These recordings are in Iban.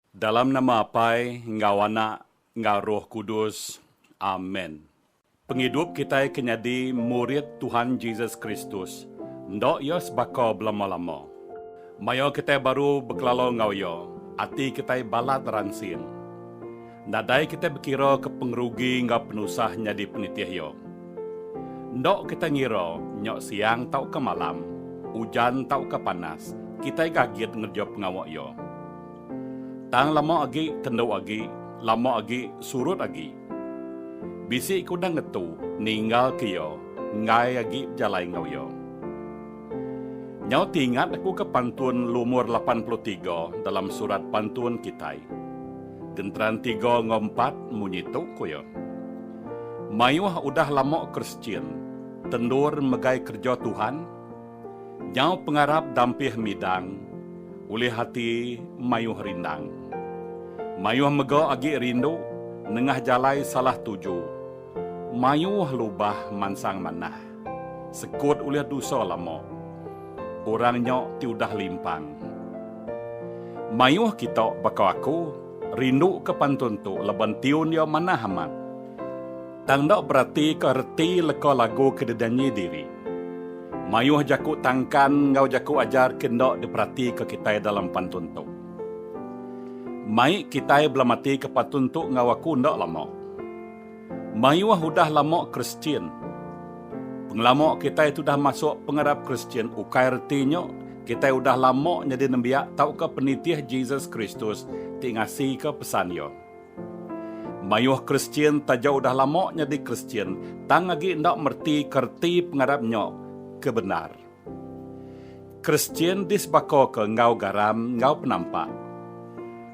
Dalam nama Apai enggau Anak enggau Roh Kudus. Amen. Pengidup kitai ke nyadi murid Tuhan Jesus Kristus enda iya sebaka belama-lama. Maya kitai baru bekelala enggau Iya, ati kitai balat ransing. Nadai kitai bekiraka pengerugi enggau penusah nyadi penitih Iya. Enda kitai ngira nya siang tauka malam, ujan tauka panas, kitai gagit ngereja pengawa Iya. Tang lama agi, kendu agi, lama agi, surut agi. Bisi ke udah ngetu ninggalka Iya enggai agi bejalai enggau Iya. Nyau ti ingat aku ke pantun lumur lapan puluh tiga dalam surat pantun kitai. Genteran tiga enggau empat munyi tu ku iya. Mayuh udah lama Kristian tendur megai kereja Tuhan nyau pengarap dampih midang ulih ati mayuh rindang. Mayuh mega agi rindu nengah jalai salah tuju mayuh lubah mansang manah. Sekut ulih dusa lama. Orang nya ti udah limpang. Mayuh kita baka aku rinduka pantun tu laban tiun iya manah amat. Tang enda beratika reti leka lagu ke didanyi diri. Mayuh jaku tangkan enggau jaku ajar ke enda diperatika kitai dalam pantun tu. Mai kitai belamatika pantun tu enggau aku enda lama. Mayuh udah lama Kristian. Pengelama kitai ti udah masuk pengarap Kristian ukai reti nya kitai udah lama nyadi nembiak tauka penitih Jesus Kristus ti ngasika pesan Iya. Mayuh Kristian taja udah lama nyadi Kristian tang agi enda meretika reti pengarap nya ke bendar. Kristian disebakoka enggau garam enggau penampak.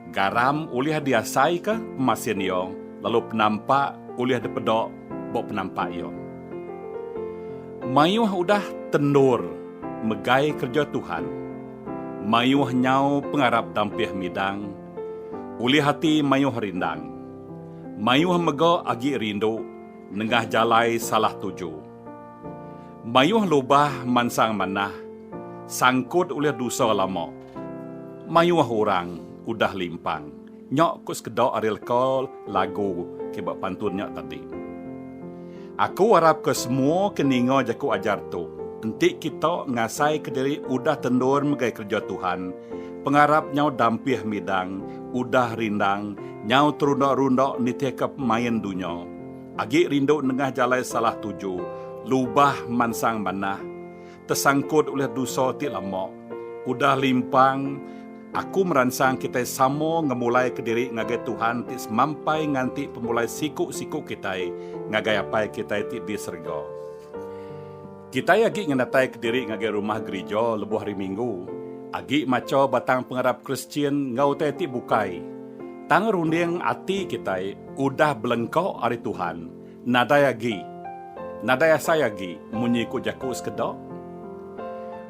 Garam ulih diasaika pemasin iya lalu penampak ulih dipeda ba penampak iya. Mayuh udah tendur megai kereja Tuhan, mayuh nyau pengarap dampih midang, ulih ati mayuh rindang. Mayuh mega agi rindu nengah jalai salah tuju. Mayuh lubah mansang manah sangkut ulih dusa lama. Mayuh orang udah limpang nya ku sekeda ari leka lagu ti ba pantun nya tadi. Aku arapka semua ke ninga jaku ajar tu enti kita ngasaika diri udah tendur megai kereja Tuhan, pengarap nyau dampih midang, udah rindang nyau terunda-runda nitihka pemain dunya. Agi rindu nengah jalai salah tuju, lubah mansang manah, tesangkut ulih dusa ti lama. Udah limpang, aku meransang kitai sama ngemulaika diri ngagai Tuhan ti semampai nganti pemulai siku-siku kitai ngagai Apai kitai ti di serega. Kitai agi ngenatai kediri ngagai rumah gerija lebuh Hari Minggu, agi macha batang pengarap Kristian enggau utai ti bukai, tang runding ati kitai udah belengka ari Tuhan nadai agi nadai asai agi munyi ku jaku sekeda.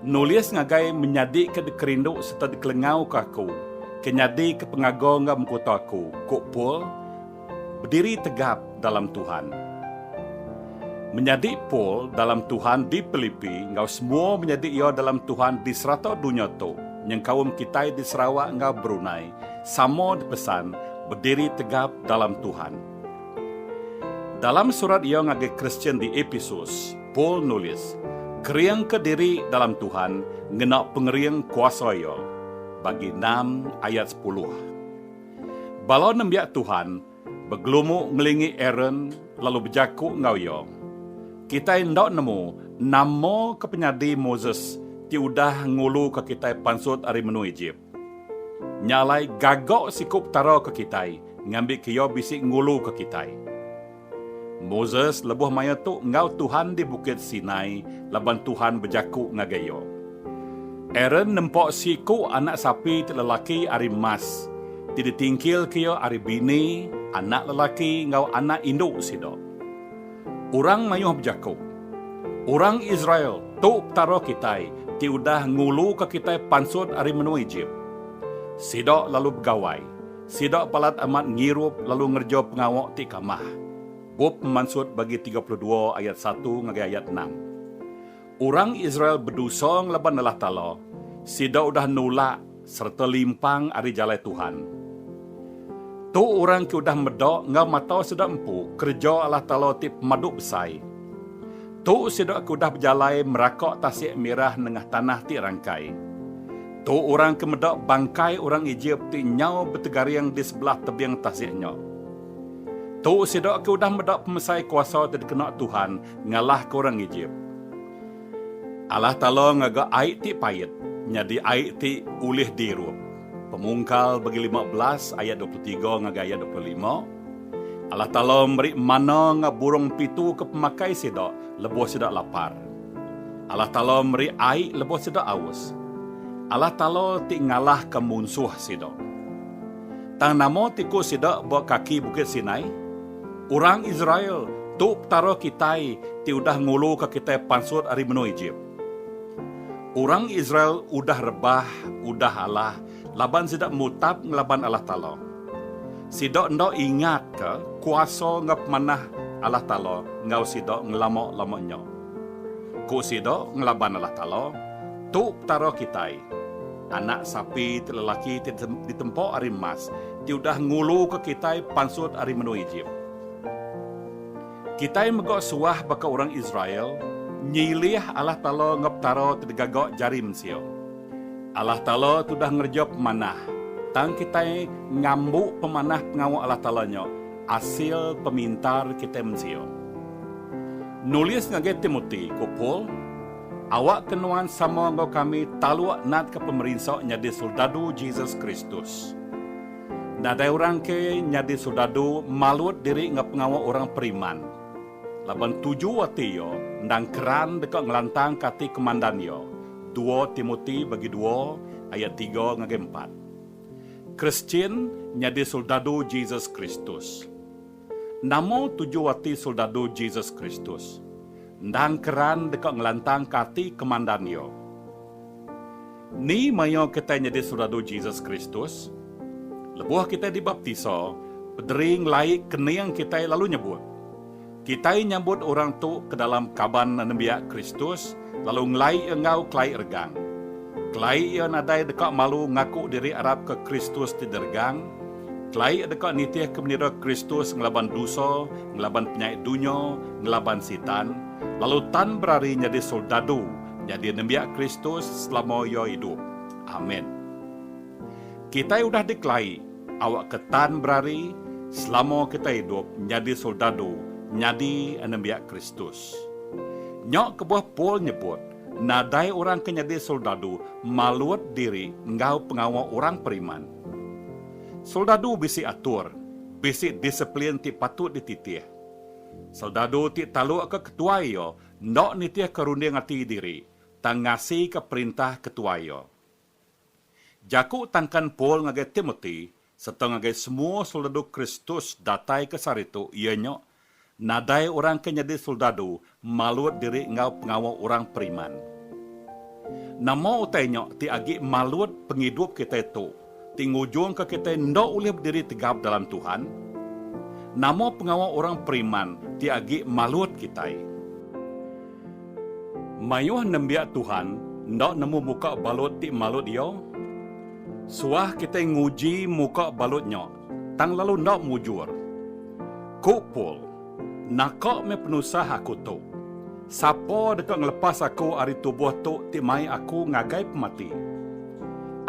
Nulis ngagai menyadika dikerindu sereta dikelengauka aku ke nyadika pengaga enggau mengkuta aku, ku Paul. Bediri tegap dalam Tuhan. Menyadi Paul dalam Tuhan di Pilipi enggau semua menyadi iya dalam Tuhan di serata dunya tu nyengkaum kitai di Sarawak enggau Brunei sama dipesan bediri tegap dalam Tuhan. Dalam surat iya ngagai Kristian di Episus, Paul nulis, Keringka diri dalam Tuhan ngena pengering kuasa Iya, bagi enam ayat sepuluh. Bala nembiak Tuhan begelumu ngelingi Aaron lalu bejaku enggau iya, Kitai enda nemu nama ke penyadi Moses ti udah nguluka kitai pansut ari menua Ejip. Nya alai gaga siku Petara ke kitai ngambika iya bisi nguluka kitai. Moses lebuh maya tu enggau Tuhan di Bukit Sinai laban Tuhan bejaku ngagai iya. Aaron nempa seiku anak sapi ti lelaki ari emas ti ditingkilka iya ari bini, anak lelaki, enggau anak indu sida. Orang mayuh bejaku, Orang Israel, tu Petara kitai ti udah nguluka kitai pansut ari menua Ejip. Sida lalu begawai, Sida balat amat ngirup lalu ngereja pengawa ti kamah. Bup Pemansut bagi tiga puluh dua ayat satu ngagai ayat enam. Orang Israel bedosa ngelaban Allah Taala, sida udah nulak sereta limpang ari jalai Tuhan. Tu orang ke udah meda enggau mata sida empu kereja Allah Taala ti pemadu besai. Tu sida ke udah bejalai meraka tasik mirah nengah tanah ti rangkai. Tu orang ke meda bangkai orang Ejip ti nyau betegaring di sebelah tebing tasik nya. Tu sida ke udah meda pemesai kuasa ti dikena Tuhan ngalahka orang Ejip. Allah Taala ngaga ai ti pait nyadi ai ti ulih diirup. Pemungkal bagi lima belas ayat dua puluh tiga ngagai ayat dua puluh lima. Allah Taala meri manna enggau burung pitu ke pemakai sida lebuh sida lapar. Allah Taala meri ai lebuh sida aus. Allah Taala ti ngalahka munsuh sida. Tang nama ti ku sida ba kaki Bukit Sinai? Orang Israel, tu Petara kitai ti udah nguluka kitai pansut ari menua Ejip. Orang Israel udah rebah udah alah Laban sida mutap ngelaban Allah Taala. Sida enda ingatka kuasa enggau pemanah Allah Taala enggau sida ngelama-lama nya. Ku sida ngelaban Allah Taala, Tu Petara kitai, anak sapi ti lelaki ti ditempa ari emas ti udah nguluka kitai pansut ari menua Ejip. Kitai mega suah baka orang Israel nyilih Allah Taala enggau petara ti digaga jari mensia. Allah Taala tu udah ngereja pemanah, tang kitai ngambu pemanah pengawa Allah Taala nya asil pemintar kitai mensia. Nulis ngagai Timoti, ku Paul, Awakka nuan sama enggau kami taluk natka pemerinsa nyadi soldadu Jesus Kristus. Nadai orang ke nyadi soldadu malut diri enggau pengawa orang periman, laban tuju ati iya endang keran deka ngelantangka ati komandan iya. Dua Timoti bagi dua ayat tiga ngagai empat. Kristian nyadi soldadu Jesus Kristus. Nama tuju ati soldadu Jesus Kristus? Endang keran deka ngelantangka ati kemandan iya. Ni maya kitai nyadi soldadu Jesus Kristus? Lebuh kitai dibaptisa, Pederi ngelai kening kitai lalu nyebut, Kitai nyambut orang tu ke dalam kaban nembiak Kristus lalu ngelai iya enggau kelai regang. Kelai iya nadai deka malu ngaku diri arap ke Kristus ti diregang. Kelai iya deka nitihka menira Kristus ngelaban dusa, ngelaban penyai dunya, ngelaban Sitan, lalu tan berari nyadi soldadu nyadi nembiak Kristus selama iya idup. Amen. Kitai udah dikelai. Awakka tan berari selama kitai idup nyadi soldadu nyadi anembiak Kristus. Nya kebuah Paul nyebut nadai orang ke nyadi soldadu malut diri enggau pengawa orang periman. Soldadu bisi atur, bisi disiplin ti patut dititih. Soldadu ti talukka ketuai iya enda nitihka runding ati diri, tang ngasika perintah ketuai iya. Jaku tangkan Paul ngagai Timoti sereta ngagai semua soldadu Kristus datai ke sehari tu iya nya, Nadai orang ke nyadi soldadu malut diri enggau pengawa orang periman. Nama utai nya ti agi malut pengidup kitai tu ti ngujungka kitai enda ulih bediri tegap dalam Tuhan? Nama pengawa orang periman ti agi malut kitai? Mayuh nembiak Tuhan enda nemu muka balut ti malut iya. Suah kitai nguji muka balut nya, tang lalu enda mujur. Ku Paul, Naka meh penusah aku tu! Sapa deka ngelepas aku ari tubuh tu ti mai aku ngagai pemati?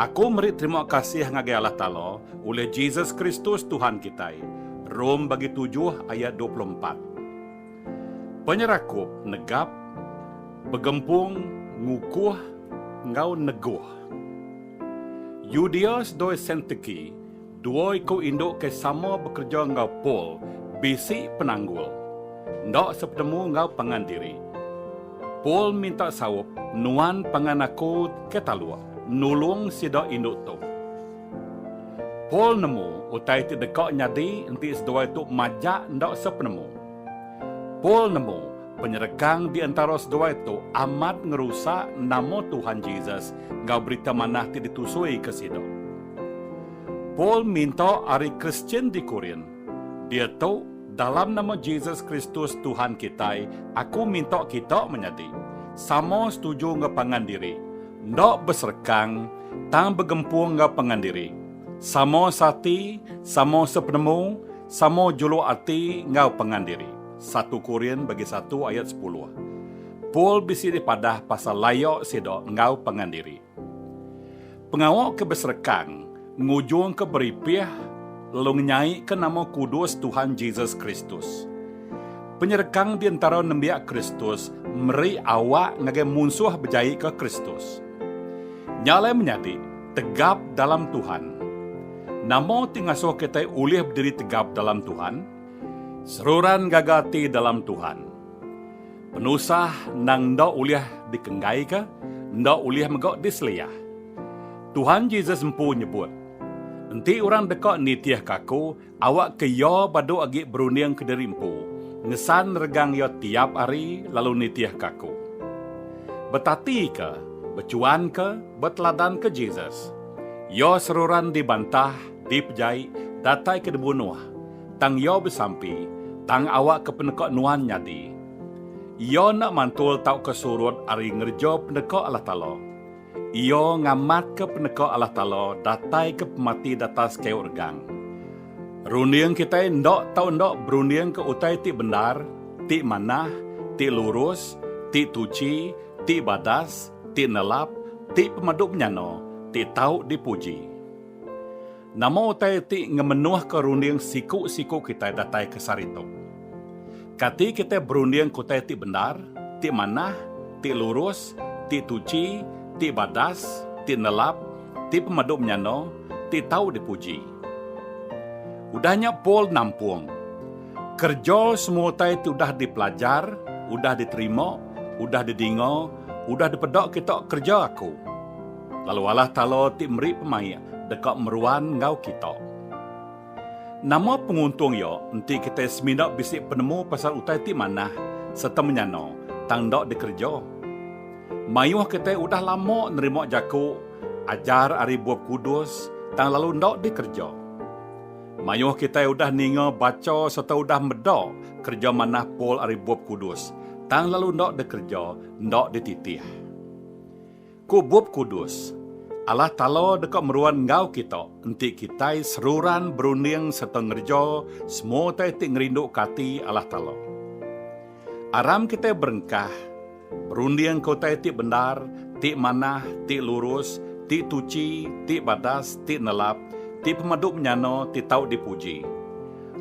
Aku meri terima kasih ngagai Allah Taala ulih Jesus Kristus Tuhan kitai, Rom bagi tujuh ayat dua puluh empat. Penyerakup negap, begempung, ngukuh enggau neguh. Yudios doi Sentiki, dua iku indu ke sama bekereja enggau Paul, bisi penanggul. Enda sepenemu enggau pangan diri, Paul minta saup, Nuan pangan aku ke taluk, nulung sida indu tu. Paul nemu utai ti deka nyadi enti seduai tu majak enda sepenemu. Paul nemu penyerekang di entara seduai tu amat ngerusak nama Tuhan Jesus enggau Berita Manah ti ditusuika sida. Paul minta ari Kristian di Korint, Diatu, dalam nama Jesus Kristus Tuhan kitai, aku minta kita menyadi sama setuju enggau pangan diri, Enda beserekang, tang begempung enggau pangan diri. Sama seati, sama sepenemu, sama juluk ati enggau pangan diri. Satu Korin bagi satu ayat sepuluh. Paul bisi dipadah pasal laya sida enggau pangan diri. Pengawa ke beserekang. Ngujungka beripih lalu ngenyaika nama kudus Tuhan Jesus Kristus. Penyerekang di entara nembiak Kristus meri awak ngagai munsuh bejaika Kristus. Nya alai menyadi, tegap dalam Tuhan. Nama ti ngasuh kitai ulih bediri tegap dalam Tuhan? Seruran gaga ati dalam Tuhan. Penusah endang enda ulih dikenggaika, enda ulih mega diseliah. Tuhan Jesus empu nyebut, Enti orang deka nitihka Aku, awakka iya badu agi berunding kediri empu, ngesan regang iya tiap hari lalu nitihka Aku. Betatika, bechuanka, beteladanka Jesus. Iya seruran dibantah, dipejai, datai ke dibunuh. Tang iya besampi, tang awakka peneka nuan nyadi. Iya enda mantul tauka surut ari ngereja peneka Allah Taala. Iya ngamatka peneka Allah Taala dataika pemati datas kayu regang. Runding kitai enda tau enda berundingka utai ti bendar, ti manah, ti lurus, ti tuchi, ti badas, ti nelap, ti pemadu menyana, ti tau dipuji. Nama utai ti ngemenuhka runding siku-siku kitai datai ke sehari tu? Kati kitai berunding ke utai ti bendar, ti manah, ti lurus, ti tuchi, ti badas, ti nelap, ti pemadu menyana, ti tau dipuji? Udah nya Paul nampung, Kereja semua utai ti udah dipelajar, udah diterima, udah didinga, udah dipeda kita kereja aku. lalu alah Taala ti meri pemaik deka meruan enggau kita. Nama penguntung iya enti kitai semina bisi penemu pasal utai ti manah sereta menyana tang enda dikereja? Mayuh kitai udah lama nerima jaku ajar ari Bup Kudus tang lalu enda dikereja. Mayuh kitai udah ninga bacha sereta udah meda kereja manah Paul ari Bup Kudus tang lalu enda dikereja enda dititih. Ku Bup Kudus, Allah Taala deka meruan enggau kita enti kitai seruran berunding sereta ngereja semua utai ti ngerinduka ati Allah Taala. Aram kitai berengkah, berundingka utai ti bendar, ti manah, ti lurus, ti tuchi, ti badas, ti nelap, ti pemadu menyana, ti tau dipuji.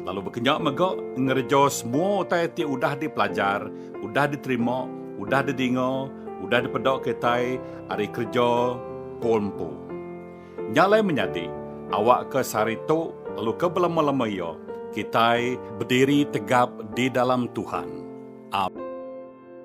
lalu bekenya mega ngereja semua utai ti udah dipelajar, udah diterima, udah dedinga, udah dipeda kitai ari kereja Paul empu. Nya alai menyadi, awakka sehari tu lalu ke belama-lama iya, kitai. Bediri tegap di dalam Tuhan. Am.